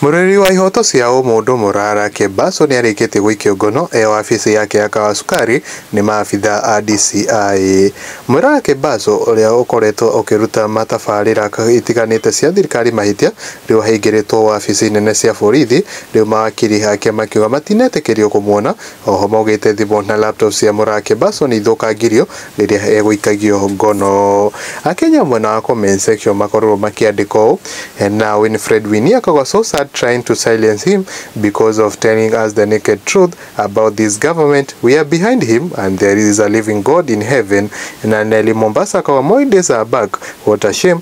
Mũrũĩrĩri wa ihoto cia ũmũndũ Morara Kebaso nĩarĩkĩtie gũikio ngono e wabici yake ya Kawasukari nĩ maabitha a DCI. Morara Kebaso ũrĩa ũkoretwo ũkĩruta matabarĩra itiganĩte cia thirikari mahĩtia rĩu ahingĩrĩtwo wabici nene cia borithi rĩu mawakiri ake makiuga matinetĩkĩrio kũmuona Oho maugĩte thimũ na laptop cia mũrake Basson ithũkangirio rĩrĩa egũikagio ngono. Akenya mwena wa comment section makorirwo makĩandĩka ũũ, Now Winfred Winnie akoragwo so sad trying to silence him because of telling us the naked truth about this government, we are behind him and there is a living God in heaven, na Nelly Mombasa akoragwo more days are back, what a shame,